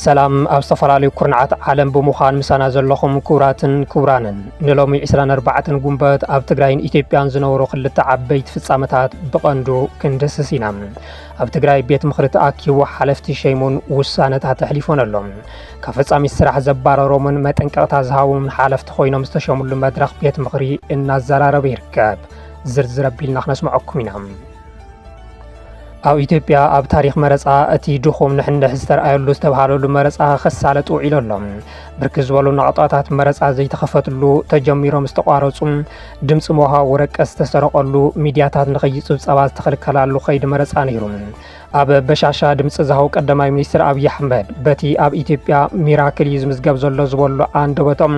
ሰላም ኣብ ዝተፈላለዩ ኩርናዓት ዓለም ብምዃን ምሳና ዘለኹም ክቡራትን ክቡራንን ንሎሚ 24 ጉንበት ኣብ ትግራይን ኢትዮጵያን ዝነበሩ ክልተ ዓበይቲ ፍጻመታት ብቐንዱ ክንድስስ ኢና ኣብ ትግራይ ቤት ምኽሪ ተኣኪቡ ሓለፍቲ ሸይሙን ውሳነታት ኣሕሊፎን ኣሎ ካብ ፈጻሚት ስራሕ ዘባረሮምን መጠንቀቕታ ዝሃቦምን ሓለፍቲ ኮይኖም ዝተሸምሉ መድረኽ ቤት ምኽሪ እናዘራረበ ይርከብ። ዝርዝር ኣቢልና ክነስምዐኩም ኢና። ኣብ ኢትዮጵያ ኣብ ታሪክ መረፃ እቲ ድኹም ንሕንሕ ዝተረኣየሉ ዝተብሃለሉ መረፃ ክሳለጥ ውዒሉ ኣሎ። ብርክት ዝበሉ ናቕጣታት መረፃ ዘይተኸፈትሉ ተጀሚሮም ዝተቋረፁ፣ ድምፂ ምውሃብ ወረቀት ዝተሰረቐሉ፣ ሚድያታት ንኸይፅብፀባ ዝተኸልከላሉ ከይዲ መረፃ ነይሩ። ኣብ በሻሻ ድምፂ ዝሃው ቀዳማይ ሚኒስትር ኣብዪ ኣሕመድ በቲ ኣብ ኢትዮጵያ ሚራክል እዩ ዝምዝገብ ዘሎ ዝበሉ ኣንደበቶም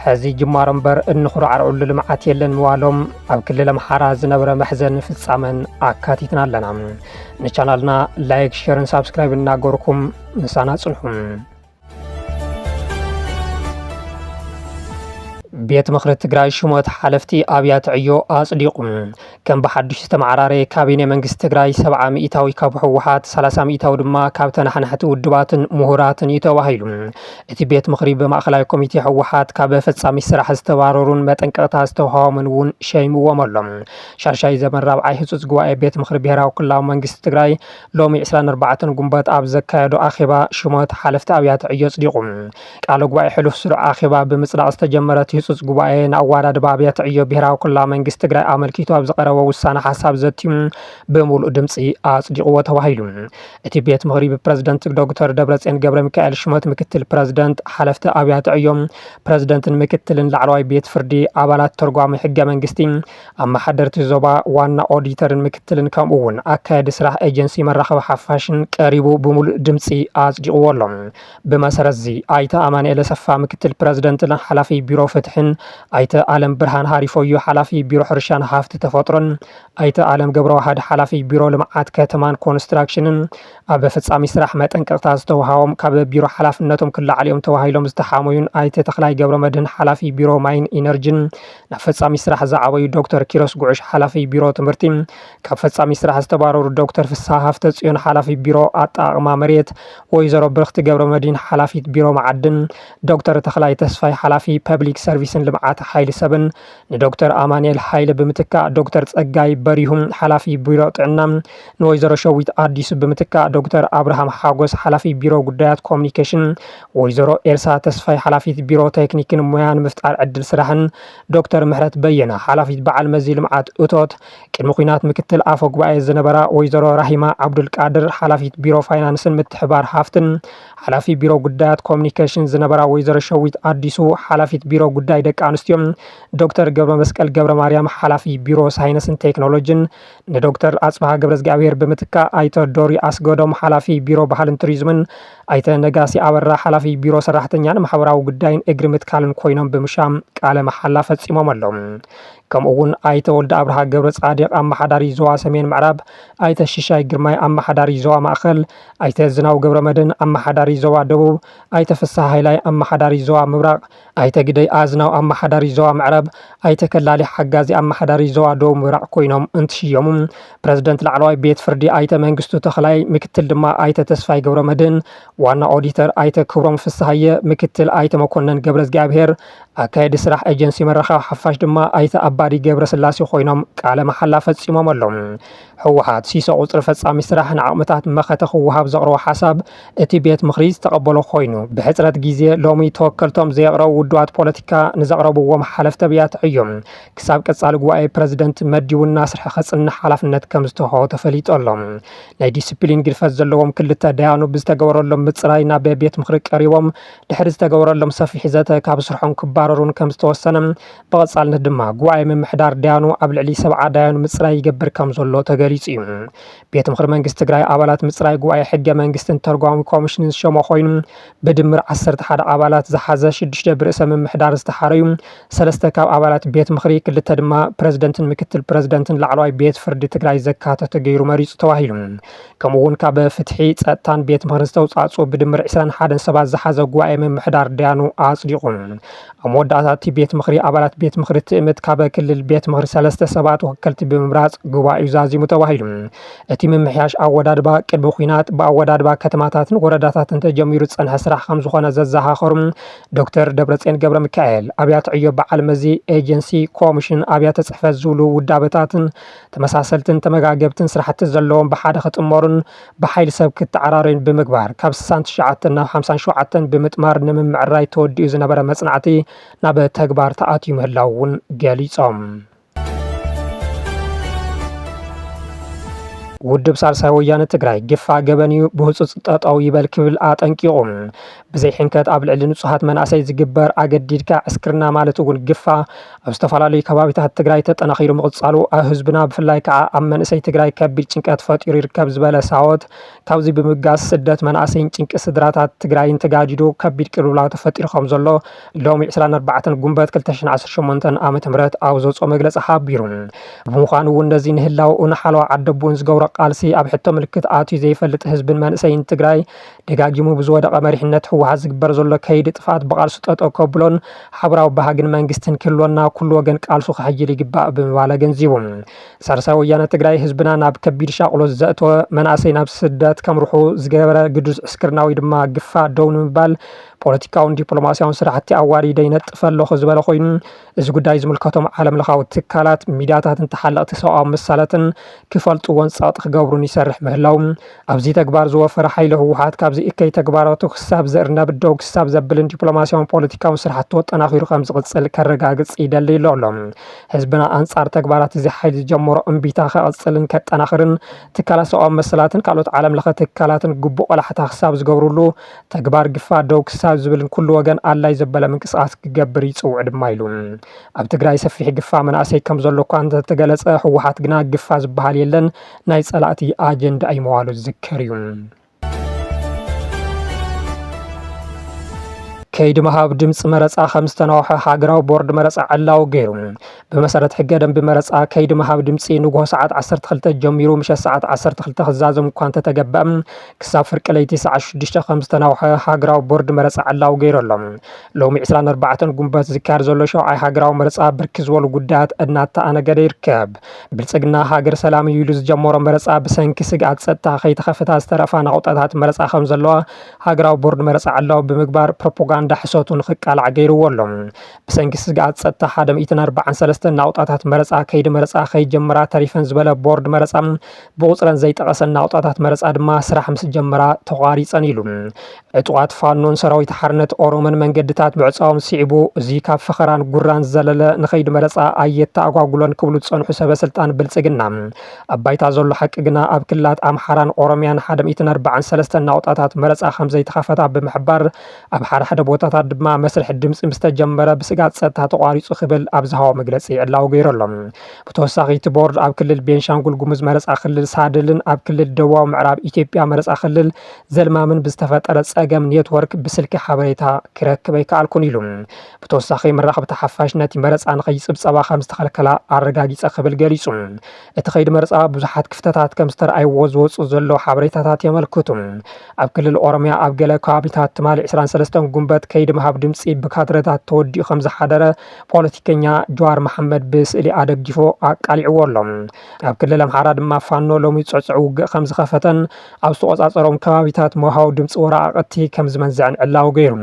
ሕዚ ጅማሮ እምበር እንኹራዕርዕሉ ልምዓት የለን ምባሎም ኣብ ክልል ኣምሓራ ዝነበረ መሕዘን ፍጻመን ኣካቲትና ኣለና ንቻናልና ላይክ ሸርን ሳብስክራይብ እናገርኩም ምሳና ጽንሑ ቤት ምኽሪ ትግራይ ሽሞት ሓለፍቲ ኣብያተ ዕዮ ኣጽዲቑ። ከም ብሓዱሽ ዝተመዓራረየ ካቢኔ መንግስቲ ትግራይ ሰብዓ ሚእታዊ ካብ ህወሓት፣ ሰላሳ ሚእታዊ ድማ ካብ ተናሓናሕቲ ውድባትን ምሁራትን እዩ ተባሂሉ። እቲ ቤት ምኽሪ ብማእኸላይ ኮሚቴ ህወሓት ካብ ፈጻሚ ስራሕ ዝተባረሩን መጠንቀቕታ ዝተዋህቦምን እውን ሸይምዎም ኣሎ። ሻሻይ ዘበን ራብዓይ ህፁፅ ጉባኤ ቤት ምኽሪ ብሄራዊ ክልላዊ መንግስቲ ትግራይ ሎሚ ዕስራን ኣርባዕተን ጉንበት ኣብ ዘካየዶ ኣኼባ ሽሞት ሓለፍቲ ኣብያተ ዕዮ ኣጽዲቑ። ቃለ ጉባኤ ሕሉፍ ስሩዕ ኣኼባ ብምጽዳቕ ዝተጀመረ እቲ ህጹጽ ጉባኤ፣ ንኣወዳድባ ኣብያተ ዕዮ ብሄራዊ ክልላዊ መንግስቲ ትግራይ ኣመልኪቱ ኣብ ዝቐረበ ውሳነ ሓሳብ ዘትዩ ብምሉእ ድምጺ ኣጽዲቑዎ ተባሂሉ። እቲ ቤት ምኽሪ ብፕረዚደንት ዶግተር ደብረጽዮን ገብረሚካኤል ሽሞት ምክትል ፕረዚደንት፣ ሓለፍቲ ኣብያተ ዕዮ፣ ፕረዚደንትን ምክትልን ላዕለዋይ ቤት ፍርዲ፣ ኣባላት ተርጓሚ ሕገ መንግስቲ፣ ኣመሓደርቲ ዞባ፣ ዋና ኦዲተርን ምክትልን ከምኡ እውን ኣካያዲ ስራሕ ኤጀንሲ መራኸቢ ሓፋሽን ቀሪቡ ብምሉእ ድምፂ ኣፅዲቑዎ ኣሎ። ብመሰረት እዚ ኣይተ ኣማኒኤል ኣሰፋ ምክትል ፕረዚደንትን ሓላፊ ቢሮ ፍትሒን፣ ኣይተ ኣለምብርሃን ሃሪፎዩ ሓላፊ ቢሮ ሕርሻን ሃፍቲ ተፈጥሮን፣ ኣይተ ኣለም ገብረዋህድ ሓላፊ ቢሮ ልምዓት ከተማን ኮንስትራክሽንን ኣብ ፈፃሚ ስራሕ መጠንቀቕታ ዝተውሃቦም ካብ ቢሮ ሓላፍነቶም ክለዓሉ እዮም ተባሂሎም ዝተሓሞዩን ኣይተ ተኽላይ ገብረመድህን ሓላፊ ቢሮ ማይን ኢነርጅን ናብ ፈፃሚ ስራሕ ዝዓበዩ ዶክተር ኪሮስ ጉዕሽ ሓላፊ ቢሮ ትምህርቲ፣ ካብ ፈፃሚ ስራሕ ዝተባረሩ ዶክተር ፍስሃ ሃፍተፅዮን ሓላፊ ቢሮ ኣጠቓቕማ መሬት፣ ወይዘሮ ብርኽቲ ገብረመድሂን ሓላፊት ቢሮ መዓድን፣ ዶክተር ተኽላይ ተስፋይ ሓላፊ ፐብሊክ ሰርቪስን ልምዓት ሓይሊ ሰብን ንዶክተር ኣማኒኤል ሃይለ ብምትካእ ዶክተር ፀጋይ በሪሁ ሓላፊ ቢሮ ጥዕና፣ ንወይዘሮ ሸዊት ኣዲሱ ብምትካእ ዶክተር ኣብርሃም ሓጎስ ሓላፊ ቢሮ ጉዳያት ኮሙኒኬሽን፣ ወይዘሮ ኤልሳ ተስፋይ ሓላፊት ቢሮ ቴክኒክን ሞያን ምፍጣር ዕድል ስራሕን፣ ዶክተር ምሕረት በየነ ሓላፊት በዓል መዚ ልምዓት እቶት፣ ቅድሚ ኲናት ምክትል ኣፈ ጉባኤ ዝነበራ ወይዘሮ ራሂማ ዓብዱልቃድር ሓላፊት ቢሮ ፋይናንስን ምትሕብባር ሃፍትን፣ ሓላፊ ቢሮ ጉዳያት ኮሚኒኬሽን ዝነበራ ወይዘሮ ሸዊት ኣዲሱ ሓላፊት ቢሮ ጉዳይ ደቂ ኣንስትዮ፣ ዶክተር ገብረመስቀል ገብረማርያም ሓላፊ ቢሮ ሳይነስን ቴክኖሎጅን፣ ንዶክተር ኣፅብሃ ገብረዝግኣብሄር ብምትካእ ኣይተ ዶሪ ኣስገዶም ሓላፊ ቢሮ ባህልን ቱሪዝምን፣ ኣይተ ነጋሲ ኣበራ ሓላፊ ቢሮ ሰራሕተኛን ማሕበራዊ ጉዳይን እግሪ ምትካልን ኮይኖም ብምሻም ቃለ መሓላ ፈፂሞም ኣለው። ከምኡ እውን ኣይተ ወልደኣብርሃ ገብረፃዲቕ ኣመሓዳሪ ዞባ ሰሜን ምዕራብ፣ ኣይተ ሽሻይ ግርማይ ኣመሓዳሪ ዞባ ማእኸል፣ ኣይተ ዝናው ገብረመድህን ኣመሓዳሪ ዞባ ደቡብ፣ ኣይተ ፍስሃ ሃይላይ ኣመሓዳሪ ዞባ ምብራቕ፣ ኣይተ ግደይ ኣዝናው ኣመሓዳሪ ዞባ ምዕራብ፣ ኣይተ ከላሊ ሓጋዚ ኣመሓዳሪ ዞባ ደቡብ ምብራቕ ኮይኖም እንትሽየሙ፣ ፕረዚደንት ላዕለዋይ ቤት ፍርዲ ኣይተ መንግስቱ ተኽላይ፣ ምክትል ድማ ኣይተ ተስፋይ ገብረመድህን፣ ዋና ኦዲተር ኣይተ ክብሮም ፍስሃየ፣ ምክትል ኣይተ መኮነን ገብረዝግኣብሄር፣ ኣካየዲ ስራሕ ኤጀንሲ ምርኻብ ሓፋሽ ድማ ኣይተ ኣባዲ ገብረስላሴ ኮይኖም ቃለ መሓላ ፈፂሞም ኣለው። ህወሓት፣ ሲሶ ቁፅሪ ፈፃሚ ስራሕ ንዓቕምታት መኸተ ክወሃብ ዘቕረቦ ሓሳብ እቲ ቤት ምኽሪ ዝተቐበሎ ኮይኑ፣ ብሕፅረት ጊዜ ሎሚ ተወከልቶም ዘየቕረቡ ውዱባት ፖለቲካ ንዘቕረብዎም ሓለፍቲ ኣብያተ ዕዮ ክሳብ ቀፃሊ ጉባኤ ፕረዚደንት መዲቡ እናስርሐ ከፅንሕ ሓላፍነት ከምዝተውሃቦ ተፈሊጡ ኣሎ። ናይ ዲሲፕሊን ግድፈት ዘለዎም ክልተ ዳያኑ ብዝተገበረሎም ምፅራይ ናብ ቤት ምኽሪ ቀሪቦም ድሕሪ ዝተገበረሎም ሰፊሕ ዘተ ካብ ስርሖም ክባረሩን ከምዝተወሰነ ብቐፃልነት ድማ ጉባኤ ምምሕዳር ዳያኑ ኣብ ልዕሊ ሰብዓ ዳያኑ ምፅራይ ይገብር ከም ዘሎ ተገሊፁ እዩ። ቤት ምኽሪ መንግስቲ ትግራይ ኣባላት ምፅራይ ጉባኤ ሕገ መንግስትን ተርጓሚ ኮሚሽንን ዝሸሞ ኮይኑ ብድምር ዓሰርተ ሓደ ኣባላት ዝሓዘ ሽዱሽተ ብርእሰ ምምሕዳር ዝተሓረዩ ሰለስተ ካብ ኣባላት ቤት ምኽሪ ክልተ ድማ ፕረዚደንትን ምክትል ፕረዚደንትን ላዕለዋይ ቤት ፍርዲ ትግራይ ዘካተተ ገይሩ መሪፁ ተባሂሉ። ከምኡ እውን ካብ ፍትሒ፣ ፀጥታን ቤት ምኽርን ዝተውፃእፅኡ ብድምር ዕስራን ሓደን ሰባት ዝሓዘ ጉባኤ ምምሕዳር ዳያኑ ኣፅዲቑ። ኣብ መወዳእታ እቲ ቤት ምኽሪ ኣባላት ቤት ምኽሪ ትእምት ካብ ክልል ቤት ምኽሪ ሰለስተ ሰባት ወከልቲ ብምምራፅ ጉባኤኡ ዛዚሙ ተባሂሉ። እቲ ምምሕያሽ ኣወዳድባ ቅድሚ ኲናት ብኣወዳድባ ከተማታትን ወረዳታትን ተጀሚሩ ዝፀንሐ ስራሕ ከምዝኾነ ዘዘኻኸሩ ዶክተር ደብረፅዮን ገብረሚካኤል ኣብያተ ዕዮ በዓል መዚ፣ ኤጀንሲ፣ ኮሚሽን፣ ኣብያተ ፅሕፈት ዝብሉ ውዳበታትን ተመሳሰልትን ተመጋገብትን ስራሕቲ ዘለዎም ብሓደ ክጥመሩን ብሓይሊ ሰብ ክተዓራረዩን ብምግባር ካብ ስሳን ትሽዓተን ናብ ሓምሳን ሸውዓተን ብምጥማር ንምምዕራይ ተወዲኡ ዝነበረ መፅናዕቲ ናብ ተግባር ተኣትዩ ምህላው እውን ገሊፆም። ውድብ ሳልሳይ ወያነ ትግራይ ግፋ ገበን እዩ ብህፁፅ ጠጠው ይበል ክብል ኣጠንቂቑ። ብዘይ ሕንከት ኣብ ልዕሊ ንፁሃት መናእሰይ ዝግበር ኣገዲድካ ዕስክርና ማለት እውን ግፋ ኣብ ዝተፈላለዩ ከባቢታት ትግራይ ተጠናኺሩ ምቕፃሉ ኣብ ህዝብና ብፍላይ ከዓ ኣብ መንእሰይ ትግራይ ከቢድ ጭንቀት ፈጢሩ ይርከብ ዝበለ ሳወት ካብዚ ብምብጋስ ስደት መናእሰይን ጭንቂ ስድራታት ትግራይን ተጋዲዱ ከቢድ ቅልውላው ተፈጢሩ ከምዘሎ ሎሚ ዕስራን ኣርባዕተን ጉንበት ክልተ ሽሕን ዓሰርተ ሸሞንተን ዓመተ ምህረት ኣብ ዘውፅኦ መግለፂ ሓቢሩ። ብምዃኑ እውን ነዚ ንህላወኡ ንሓለዋ ዓደቡን ዝገብሮ ቃልሲ ኣብ ሕቶ ምልክት ኣትዩ ዘይፈልጥ ህዝብን መንእሰይን ትግራይ ደጋጊሙ ብዝወደቐ መሪሕነት ህወሓት ዝግበር ዘሎ ከይዲ ጥፍኣት ብቓልሱ ጠጠው ከብሎን ሓብራዊ ባህግን መንግስትን ክህልወና ኩሉ ወገን ቃልሱ ከሐይል ይግባእ ብምባል ኣገንዚቡ። ሳልሳይ ወያነ ትግራይ ህዝብና ናብ ከቢድ ሻቕሎት ዘእተወ፣ መናእሰይ ናብ ስደት ከምርሑ ዝገበረ ግዱድ ዕስክርና ወይ ድማ ግፋ ደው ንምባል ፖለቲካውን ዲፕሎማሲያውን ስራሕቲ ኣዋዲደ ይነጥፍ ኣለኹ ዝበለ ኮይኑ እዚ ጉዳይ ዝምልከቶም ዓለምለኻዊ ትካላት፣ ሚድያታትን ተሓለቕቲ ሰብኣዊ መሰላትን ክፈልጥዎን ፀቕጢ ክገብሩን ይሰርሕ ምህላዉ ኣብዚ ተግባር ዝወፈረ ሓይሊ ህወሓት ካብዚ እከይ ተግባራቱ ክሳብ ዝእርነብ ደው ክሳብ ዘብልን ዲፕሎማሲያውን ፖለቲካውን ስራሕቱ ኣጠናኺሩ ከምዝቕፅል ከረጋግፅ ይደሊ ኢሎ። ህዝብና ኣንፃር ተግባራት እዚ ሓይሊ ዝጀመሮ እምቢታ ከቕፅልን ከጠናኽርን ትካላት ሰብኣዊ መሰላትን ካልኦት ዓለምለኸ ትካላትን ግቡእ ቆላሕታ ክሳብ ዝገብርሉ ተግባር ግፋ ደው ክሳብ ዝብል ንኩሉ ወገን ኣድላይ ዘበለ ምንቅስቓስ ክገብር ይፅውዕ ድማ ኢሉ። ኣብ ትግራይ ሰፊሕ ግፋ መናእሰይ ከምዘሎ እኳ እንተተገለፀ ህወሓት ግና ግፋ ዝበሃል የለን ናይ ፀላእቲ ኣጀንዳ እዩ ምባሉ ዝዝከር እዩ። ከይዲ ምሃብ ድምፂ መረፃ ከምዝተናወሐ ሃገራዊ ቦርድ መረፃ ዕላዊ ገይሩ። ብመሰረት ሕገ ደንቢ መረፃ ከይዲ ምሃብ ድምፂ ንጉሆ ሰዓት 12 ጀሚሩ ምሸት ሰዓት 12 ክዛዘም እኳ እንተተገበ ክሳብ ፍርቂ ለይቲ ሰዓት 6 ከም ዝተናውሐ ሃገራዊ ቦርድ መረፃ ዕላዊ ገይሩ ኣሎ። ሎሚ 24 ጉንበት ዝካየድ ዘሎ ሸውዓይ ሃገራዊ መረፃ ብርክ ዝበሉ ጉዳያት እናተኣነገደ ይርከብ። ብልፅግና ሃገር ሰላም እዩ ኢሉ ዝጀመሮ መረፃ ብሰንኪ ስግኣት ፀጥታ ከይተኸፈታ ዝተረፋ ናቑጣታት መረፃ ከም ዘለዋ ሃገራዊ ቦርድ መረፃ ዕላዊ ብምግባር ፕሮፓጋንዳ ሕሰቱ ንክቃላዕ ገይርዎ ኣሎ። ብሰንኪ ስግኣት ጸጥታ ሓደ ሚእትን ኣርባዓን ሰለስተን ናቑጣታት መረጻ ከይዲ መረጻ ከይጀመራ ተሪፈን ዝበለ ቦርድ መረጻ ብቑጽረን ዘይጠቐሰን ናቑጣታት መረጻ ድማ ስራሕ ምስ ጀመራ ተቋሪጸን ኢሉ። ዕጡቓት ፋኖን ሰራዊት ሓርነት ኦሮሞን መንገድታት ምዕጻዎም ስዒቡ እዚ ካብ ፈኸራን ጉራን ዝዘለለ ንኸይዲ መረጻ ኣየተኣጓጉሎን ክብሉ ዝጸንሑ ሰበ ስልጣን ብልጽግና ኣብ ባይታ ዘሎ ሓቂ ግና ኣብ ክልላት ኣምሓራን ኦሮሚያን ሓደ ሚእትን ኣርባዓን ሰለስተን ናቑጣታት መረጻ ከምዘይተኸፈታ ብምሕባር ኣብ ሓደ ሓደ ቦታታት ድማ መስርሕ ድምፂ ምስ ተጀመረ ብስግኣት ፀጥታ ተቋሪፁ ክብል ኣብ ዝሃቦ መግለፂ ዕላዊ ገይሩ ኣሎ። ብተወሳኺ እቲ ቦርድ ኣብ ክልል ቤንሻንጉል ጉሙዝ መረፃ ክልል ሳድልን ኣብ ክልል ደቡባዊ ምዕራብ ኢትዮጵያ መረፃ ክልል ዘልማምን ብዝተፈጠረ ፀገም ኔትወርክ ብስልኪ ሓበሬታ ክረክብ ኣይከኣልኩን ኢሉ። ብተወሳኺ መራኸብቲ ሓፋሽ ነቲ መረፃ ንከይፅብፀባ ከምዝተኸልከላ ኣረጋጊፀ ክብል ገሊፁ። እቲ ከይዲ መረፃ ብዙሓት ክፍተታት ከምዝተርኣይዎ ዝወፁ ዘለዉ ሓበሬታታት የመልክቱ። ኣብ ክልል ኦሮሚያ ኣብ ገለ ከባቢታት ትማሊ ዕስራን ሰለስተን ጉንበት ከይዲ ምሃብ ድምፂ ብካድረታት ተወዲኡ ከምዝሓደረ ፖለቲከኛ ጀዋር መሓመድ ብስእሊ ኣደጊፉ ኣቃሊዕዎ ኣሎ። ኣብ ክልል ኣምሓራ ድማ ፋኖ ሎሚ ፅዕፁዕ ውግእ ከምዝኸፈተን ኣብ ዝተቖፃፀሮም ከባቢታት መውሃቢ ድምፂ ወረቓቕቲ ከምዝመንዘዐን ዕላዊ ገይሩ።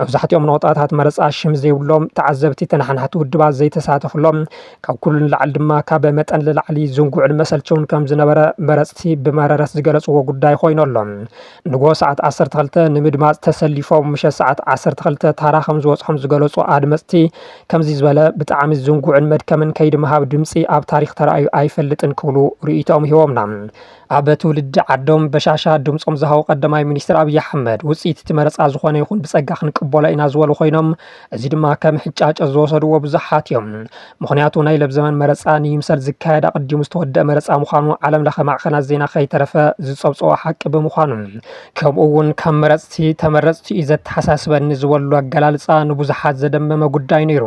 መብዛሕቲኦም ነቑጣታት መረፃ ሽም ዘይብሎም፣ ተዓዘብቲ ተነሓናሕቲ ውድባት ዘይተሳተፍሎም፣ ካብ ኩሉ ንላዕሊ ድማ ካብ መጠን ልላዕሊ ዝንጉዕን መሰልቸውን ከም ዝነበረ መረፅቲ ብመረረት ዝገለፅዎ ጉዳይ ኾይኑ ኣሎ። ንግሆ ሰዓት ዓሰርተ ክልተ ንምድማፅ ተሰሊፎም ምሸት ሰዓት ዓሰርተ ክልተ ታራ ከም ዝወፅሖም ዝገለፁ ኣድመፅቲ ከምዚ ዝበለ ብጣዕሚ ዝንጉዕን መድከምን ከይዲ ምሃብ ድምፂ ኣብ ታሪኽ ተራእዩ ኣይፈልጥን ክብሉ ርኢቶኦም ሂቦምና። ኣብ ትውልዲ ዓዶም በሻሻ ድምፆም ዝሃቡ ቀዳማይ ሚኒስትር ኣብይ ኣሕመድ ውፅኢት እቲ መረፃ ዝኾነ ይኹን ብፀጋ ክንቅበሎ ኢና ዝበሉ ኮይኖም እዚ ድማ ከም ሕጫጨ ዝወሰድዎ ብዙሓት እዮም። ምኽንያቱ ናይ ለብዘመን መረፃ ንይምሰል ዝካየድ ኣቐዲሙ ዝተወደአ መረፃ ምዃኑ ዓለም ለኸ ማዕኸናት ዜና ከይተረፈ ዝፀብፀቦ ሓቂ ብምዃኑ ከምኡ እውን ካብ መረፅቲ ተመረፅቲ እዩ ዘተሓሳስበኒ ዝበሉ ኣገላልፃ ንብዙሓት ዘደመመ ጉዳይ ነይሩ።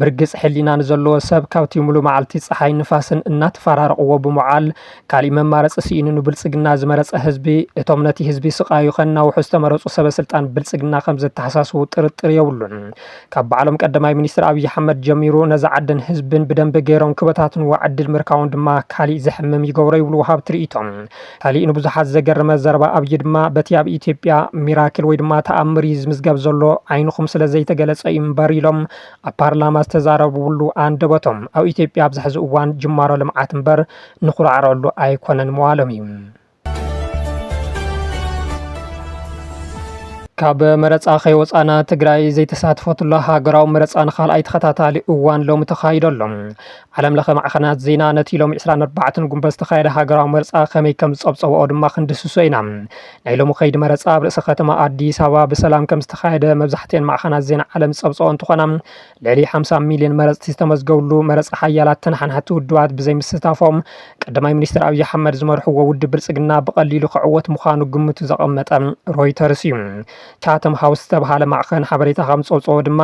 ብርግፅ ሕሊና ንዘለዎ ሰብ ካብቲ ሙሉ መዓልቲ ፀሓይ ንፋስን እናተፈራረቕዎ ብምውዓል ካሊእ መማረፂ ስኢኑ ንብልፅግና ዝመረፀ ህዝቢ እቶም ነቲ ህዝቢ ስቃዩ ከናውሑ ዝተመረፁ ሰበ ስልጣን ብልፅግና ከምዘተሓሳስቡ ጥርጥር የብሉን። ካብ ባዕሎም ቀደማይ ሚኒስትር ኣብይ ኣሕመድ ጀሚሩ ነዛ ዓድን ህዝብን ብደንቢ ገይሮም ክበታትንዋ ዕድል ምርካቦም ድማ ካሊእ ዘሕምም ይገብሮ ይብሉ ወሃብቲ ሪኢቶ። ካሊእ ንብዙሓት ዘገረመ ዘረባ ኣብይ ድማ በቲ ኣብ ኢትዮጵያ ሚራክል ወይ ድማ ተኣምር እዩ ዝምዝገብ ዘሎ ዓይንኹም ስለዘይተገለፀ እዩ እምበር ኢሎም ኣብ ፓርላማ ዝተዛረብሉ ኣንደበቶም ኣብ ኢትዮጵያ ኣብዚ ሕዚ እዋን ጅማሮ ልምዓት እምበር ንኹርዓረሉ ኣይኮነን መዋሎም እዩ። ካብ መረፃ ከይወፃእና ትግራይ ዘይተሳትፈትሉ ሃገራዊ መረፃ ንካልኣይ ተኸታታሊ እዋን ሎሚ ተኻይዶ ኣሎ። ዓለም ለኸ ማዕኸናት ዜና ነቲ ሎሚ 24 ጉንበት ዝተኻየደ ሃገራዊ መረፃ ከመይ ከም ዝፀብፀብኦ ድማ ክንድህስሶ ኢና። ናይ ሎሚ ከይዲ መረፃ ኣብ ርእሰ ከተማ ኣዲስ ኣበባ ብሰላም ከም ዝተኻየደ መብዛሕቲኤን ማዕኸናት ዜና ዓለም ዝፀብፀብኦ እንትኾና ልዕሊ ሓምሳ ሚልዮን መረፅቲ ዝተመዝገብሉ መረፃ ሓያላት ተነሓናሕቲ ውድባት ብዘይምስታፎም ቀዳማይ ሚኒስትር ኣብዪ ኣሕመድ ዝመርሕዎ ውድብ ብልፅግና ብቐሊሉ ክዕወት ምዃኑ ግምቱ ዘቐመጠ ሮይተርስ እዩ። ቻተም ሃውስ ዝተብሃለ ማዕኸን ሓበሬታ ከም ዝፀብፀቦ ድማ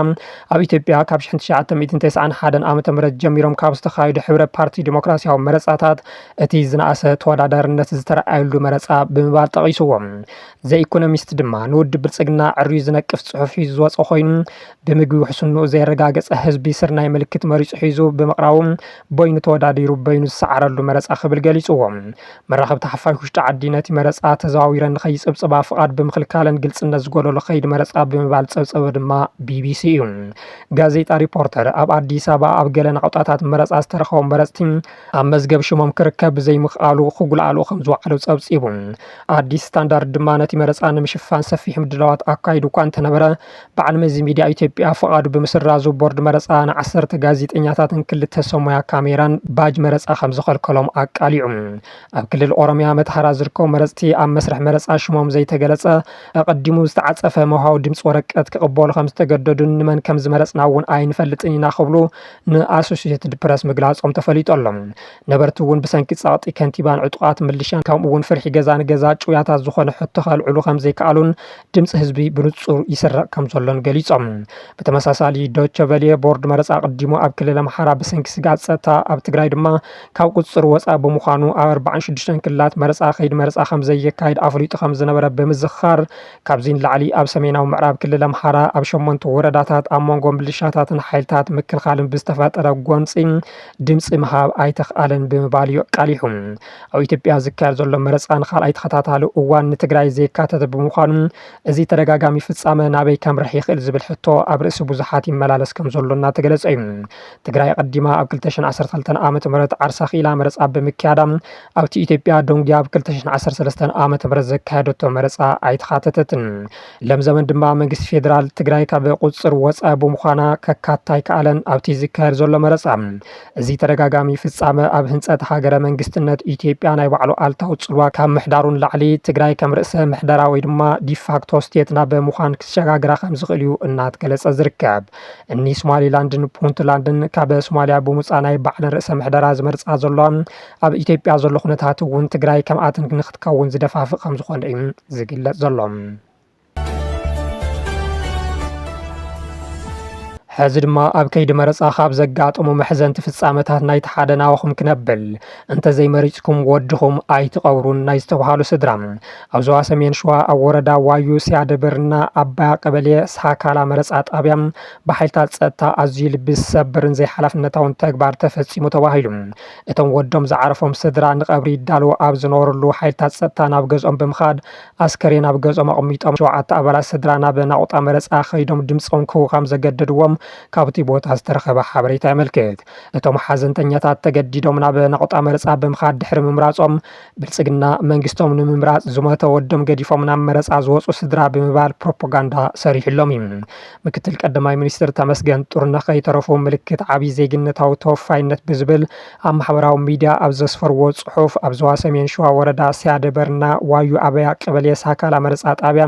ኣብ ኢትዮጵያ ካብ 1991 ዓ ም ጀሚሮም ካብ ዝተኻየዱ ሕብረ ፓርቲ ዲሞክራሲያዊ መረፃታት እቲ ዝነኣሰ ተወዳዳርነት ዝተረኣየሉ መረፃ ብምባል ጠቒስዎ። ዘኢኮኖሚስት ድማ ንውድብ ብልፅግና ዕርዩ ዝነቅፍ ፅሑፍ ሒዙ ዝወፀ ኮይኑ ብምግቢ ውሕስንኡ ዘየረጋገፀ ህዝቢ ስርናይ ምልክት መሪፁ ሒዙ ብምቕራቡ በይኑ ተወዳዲሩ በይኑ ዝሰዓረሉ መረፃ ክብል ገሊፁዎ። መራኸብቲ ሓፋሽ ውሽጢ ዓዲ ነቲ መረፃ ተዘዋዊረን ንከይፅብፅባ ፍቓድ ብምኽልካለን ግልፅነት ዝጎደሎ ከይዲ መረፃ ብምባል ዝፀብፀበ ድማ ቢቢሲ እዩ። ጋዜጣ ሪፖርተር ኣብ ኣዲስ ኣበባ ኣብ ገለ ናቑጣታት መረፃ ዝተረኸቡ መረፅቲ ኣብ መዝገብ ሽሞም ክርከብ ብዘይምኽኣሉ ክጉልኣሉ ከምዝወዓሉ ፀብፂቡ። ኣዲስ ስታንዳርድ ድማ ነቲ መረፃ ንምሽፋን ሰፊሕ ምድላዋት ኣካይዱ እኳ እንተነበረ በዓል መዚ ሚድያ ኢትዮጵያ ፍቓዱ ብምስራዙ ቦርድ መረፃ ንዓሰርተ ጋዜጠኛታትን ክልተ ሰብ ሞያ ካሜራን ባጅ መረፃ ከምዝኸልከሎም ኣቃሊዑ። ኣብ ክልል ኦሮሚያ መተሃራ ዝርከቡ መረፅቲ ኣብ መስርሕ መረፃ ሽሞም ዘይተገለፀ ኣቐዲሙ ዝተዓፀፈ መውሃቢ ድምፂ ወረቀት ክቕበሉ ከምዝተገደዱን ንመን ከምዝመረፅና እውን ኣይንፈልጥን ኢና ክብሉ ንኣሶሴትድ ፕረስ ምግላፆም ተፈሊጡ ኣሎ። ነበርቲ እውን ብሰንኪ ፀቕጢ ከንቲባን ዕጡቓት ምልሻን ከምኡ እውን ፍርሒ ገዛ ንገዛ ጭውያታት ዝኾነ ሕቶ ከልዕሉ ከምዘይከኣሉን ድምፂ ህዝቢ ብንፁር ይስረቕ ከምዘሎን ገሊፆም። ብተመሳሳሊ ዶቸ ቨሌ ቦርድ መረፃ ኣቐዲሙ ኣብ ክልል ኣምሓራ ብሰንኪ ስግኣት ፀጥታ ኣብ ትግራይ ድማ ካብ ቁፅፅር ወፃኢ ብምዃኑ ኣብ 46 ክልላት መረፃ ከይዲ መረፃ ከምዘየካይድ ኣፍሊጡ ከምዝነበረ ብምዝኻር ካብዚ ንላዕሊ ኣብ ሰሜናዊ ምዕራብ ክልል ኣምሓራ ኣብ ሸሞንተ ወረዳታት ኣብ መንጎ ምልሻታትን ሓይልታት ምክልኻልን ብዝተፈጠረ ጎንፂ ድምፂ ምሃብ ኣይተኽኣለን ብምባል እዩ ኣቃሊሑ። ኣብ ኢትዮጵያ ዝካየድ ዘሎ መረፃ ንካልኣይ ተኸታታሊ እዋን ንትግራይ ዘየካተተ ብምዃኑ እዚ ተደጋጋሚ ፍፃመ ናበይ ከምርሕ ይኽእል ዝብል ሕቶ ኣብ ርእሲ ብዙሓት ይመላለስ ከምዘሎ እናተገለፀ እዩ። ትግራይ ኣቐዲማ ኣብ ክልተ ሽሕን ዓሰርተ ክልተን ዓመተ ምህረት ዓርሳ ክኢላ መረፃ ብምክያዳ ኣብቲ ኢትዮጵያ ደንጉያ ኣብ ክልተ ሽሕን ዓሰርተ ሰለስተን ዓመተ ምህረት ዘካየደቶ መረፃ ኣይተኻተተትን። ለም ዘመን ድማ መንግስቲ ፌዴራል ትግራይ ካብ ቁፅፅር ወፃኢ ብምዃና ከካትታ ኣይከኣለን። ኣብቲ ዝካየድ ዘሎ መረፃ እዚ ተደጋጋሚ ፍፃመ ኣብ ህንፀት ሃገረ መንግስትነት ኢትዮጵያ ናይ ባዕሉ ኣልታዊ ፅልዋ ካብ ምሕዳሩ ንላዕሊ ትግራይ ከም ርእሰ ምሕደራ ወይ ድማ ዲፋክቶ ስቴት ናብ ምዃን ክሰጋግራ ከም ዝኽእል እዩ እናትገለፀ ዝርከብ። እኒ ሶማሊላንድን ፑንትላንድን ካብ ሶማሊያ ብምውፃእ ናይ ባዕለን ርእሰ ምሕደራ ዝመርፃ ዘለዋ ኣብ ኢትዮጵያ ዘሎ ኩነታት እውን ትግራይ ከምኣተን ንክትከውን ዝደፋፍእ ከም ዝኾነ እዩ ዝግለፅ ዘሎ። ሕዚ ድማ ኣብ ከይዲ መረፃ ካብ ዘጋጠሙ መሕዘንቲ ፍፃመታት ናይቲ ሓደ ናባኹም ክነብል እንተዘይመሪፅኩም ወድኹም ኣይትቐብሩን ናይ ዝተብሃሉ ስድራ ኣብ ዞባ ሰሜን ሸዋ ኣብ ወረዳ ዋዩ ሲያደብርና ኣባያ ቀበሌ ሳካላ መረፃ ጣብያ ብሓይልታት ፀጥታ ኣዝዩ ልቢ ዝሰብርን ዘይሓላፍነታውን ተግባር ተፈፂሙ ተባሂሉ እቶም ወዶም ዝዓረፎም ስድራ ንቐብሪ ይዳለዉ ኣብ ዝነበርሉ ሓይልታት ፀጥታ ናብ ገዝኦም ብምኻድ ኣስከሬን ኣብ ገዝኦም ኣቕሚጦም ሸውዓተ ኣባላት ስድራ ናብ ናቑጣ መረጻ ከይዶም ድምጾም ክህቡ ከም ዘገደድዎም ካብቲ ቦታ ዝተረኸበ ሓበሬታ የመልክት። እቶም ሓዘንተኛታት ተገዲዶም ናብ ናቑጣ መረጻ ብምኻድ ድሕሪ ምምራጾም ብልጽግና መንግስቶም ንምምራጽ ዝሞተ ወዶም ገዲፎም ናብ መረጻ ዝወጹ ስድራ ብምባል ፕሮፖጋንዳ ሰሪሑሎም እዩ። ምክትል ቀዳማይ ሚኒስትር ተመስገን ጥሩነህ ከይተረፉ ምልክት ዓቢ ዜግነታዊ ተወፋይነት ብዝብል ኣብ ማሕበራዊ ሚድያ ኣብ ዘስፈርዎ ፅሑፍ ኣብ ዞባ ሰሜን ሸዋ ወረዳ ስያደ በርና ዋዩ ኣበያ ቀበሌ ሳካላ መረፃ ጣብያ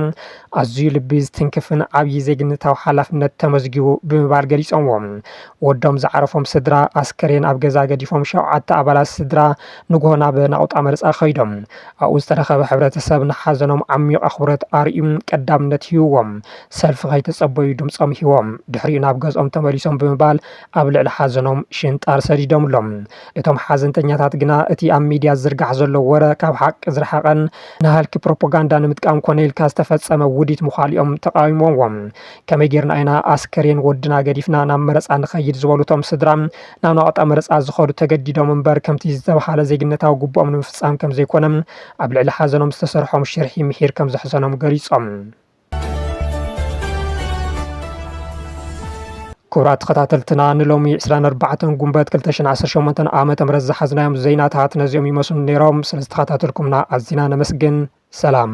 ኣዝዩ ልቢ ዝትንክፍን ዓብዪ ዜግነታዊ ሓላፍነት ተመዝጊቡ ብምባል ገሊፆምዎ። ወዶም ዝዓረፎም ስድራ ኣስከሬን ኣብ ገዛ ገዲፎም ሸውዓተ ኣባላት ስድራ ንጉሆ ናብ ናቑጣ መረፃ ከይዶም። ኣብኡ ዝተረኸበ ሕብረተሰብ ንሓዘኖም ዓሚዩቕ ኣኽብሮት ኣርእዩ ቀዳምነት ሂቡዎም ሰልፊ ከይተፀበዩ ድምፆም ሂቦም ድሕሪኡ ናብ ገዝኦም ተመሊሶም ብምባል ኣብ ልዕሊ ሓዘኖም ሽንጣር ሰዲዶምሎም። እቶም ሓዘንተኛታት ግና እቲ ኣብ ሚድያ ዝዝርጋሕ ዘሎ ወረ ካብ ሓቂ ዝረሓቐን ንሃልኪ ፕሮፖጋንዳ ንምጥቃም ኮነ ኢልካ ዝተፈፀመ ውዲት ምዃሉ እዮም ተቓዊሞምዎ። ከመይ ገይርና ኢና ኣስከሬን ወድና ገዲፍና ናብ መረፃ ንኸይድ ዝበሉ እቶም ስድራ ናብ ናቕጣ መረፃ ዝኸዱ ተገዲዶም እምበር ከምቲ ዝተብሃለ ዜግነታዊ ግቡኦም ንምፍፃም ከምዘይኮነ ኣብ ልዕሊ ሓዘኖም ዝተሰርሖም ሽርሒ ምሒር ከምዘሕዘኖም ገሊፆም። ክቡራት ተኸታተልትና ንሎሚ 24 ጉንበት 218 ዓ ም ዝሓዝናዮም ዜናታት ነዚኦም ይመስሉ ነይሮም ስለ ዝተኸታተልኩምና ኣዝና ነመስግን ሰላም